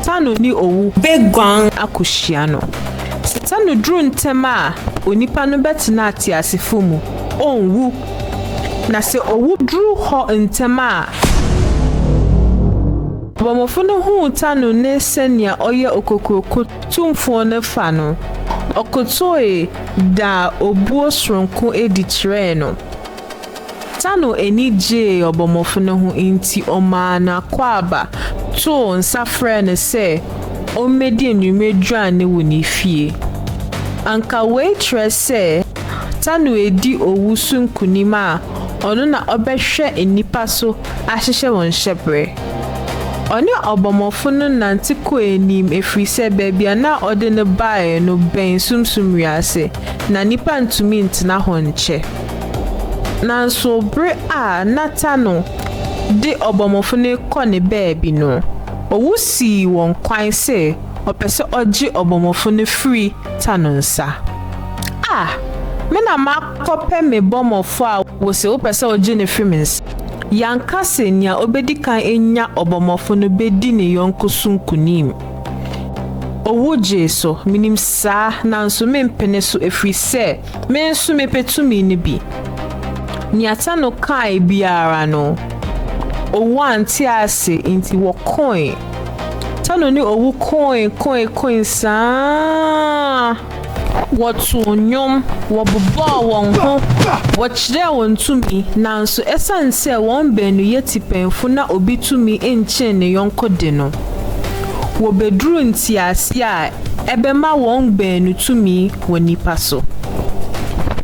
Satano ne owu beguan akohyia no. Satano duru ntɛm a, onipa no bɛtena ateasefo mu, onwu. Na sɛ owu duru hɔ ntɛm a, Ɔbɔmmɔfo no huu Satano ne sɛnea ɔyɛ okokuroko tumfoɔ no fa no, ɔkotoe daa obuo soronko adi kyerɛɛ no. Tano ani gyee ɔbɔmmɔfo no ho nti ɔmaa n'akwaaba too nsa frɛɛ no sɛ ommedi anwummere aduan no wɔ ne fie. Anka wei kyerɛ sɛ Tano redi owu so nkonim a ɔno na ɔbɛhwɛ nnipa so ahyehyɛ wɔn hyɛberɛ. Ɔne ɔbɔmmɔfo no nante kɔɔ anim ɛfiri sɛ baabi a na ɔde no baeɛ no bɛn sunsum wiase, na nnipa ntumi ntena hɔ nkyɛ. Nanso bere a Natano de ɔbɔmmɔfo no rekɔ ne baabi no, owu sii wɔn kwan sɛ ɔpɛ sɛ ɔgye ɔbɔmmɔfo no firi ta no nsa. A Me na makɔpɛ me bɔmmɔfo a wose wopɛ sɛ wogye no firi me nsa. Yɛanka sɛ nea obedi kan anya ɔbɔmmɔfo no bedi ne yɔnko so nkonim. Owu gyee so, minim saa, nanso mempene so efiri sɛ Me nso mepɛ tumi no bi. Nea Tano kae biara no, owu ante ase nti wɔkoe. Tano ne owu koe koe koe saa. Wɔtoo nnwom, wɔbobɔɔ wɔn ho, wɔkyerɛɛ wɔn tumi, nanso esiane sɛ wɔn baanu yɛ tipɛnfo na obi tumi nkyɛn ne yɔnko de no, wobeduruu ntease a ɛbɛma wɔn baanu tumi wɔ nnipa so.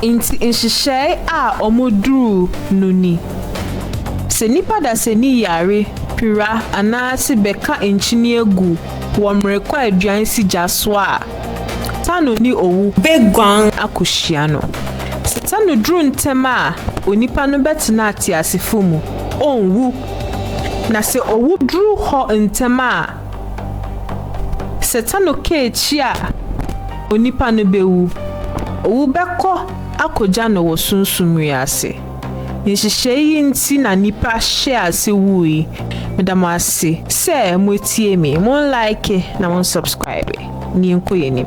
Enti nhyehyɛe a wɔduruu no ni, Sɛ nnipa dasani yare, pira anaase bɛka nkyinie gu wɔ mmerekwaduan si gya so a, Tano ne owu bɛguan akɔhyia no. Sɛ Tano duru ntɛm a, onipa no bɛtena ateasefo mu, ɔnwu. Na sɛ owu duru hɔ ntɛm a, Satan ka akyi a, onipa no bewu. Owu bɛkɔ akogya no wɔ sunsum wiase. Nhyehyɛe yi nti na nnipa hyɛɛ ase wui. Meda mo ase sɛ moatie me. Monlike na monsubscribe, na yɛnkɔ yɛn anim.